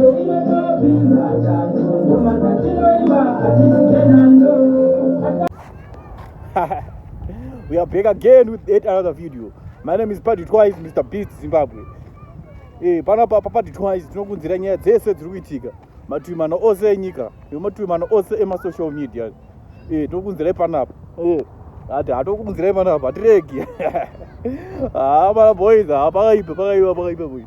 we are back again with yet another video my name is paddy twice mr beat zimbabwe hey, eh, pano papa paddy twice tinokunzira nyaya dzese dziri kuitika mativi mana ose enyika nemativi mana ose emasocial media hey, eh, tinokunzirai panapa hey. Eh, ati hatokunzirai panapa hatiregi haa ah, mana boys haa ah, pakaipa pakaipa pakaipa boys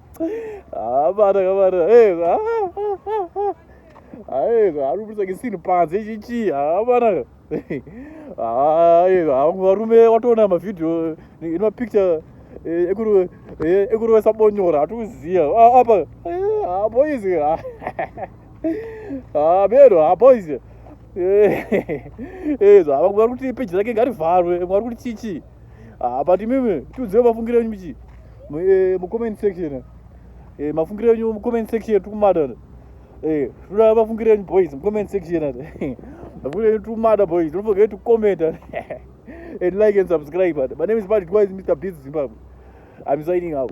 Ah, bana kabana. Hey, ah, ah, ah, ah. Hey, ah, lu bisa kisin panze chichi. Ah, bana. Ah, hey, ah, varume watona ma video in ma picture. Eh, ekuru eh, ekuru wesabonyora atuziya. Ah, apa. Eh, ah, boys. Ah. Ah, bero, ah, boys. Eh, eh, ah, vari kuti page rake ngarivharwe, vari kuti chichi. ah, but imimi tiudzire mafungiro enyu michi eh, mucomment section eh, mafungiro enyu mucomment section tikumada eh, tinoda mafungiro enyu boys mucomment section mafungiro enyu tikumada boys don't forget to comment and like and subscribe my name is patrick wise mr biz zimbabwe i'm signing out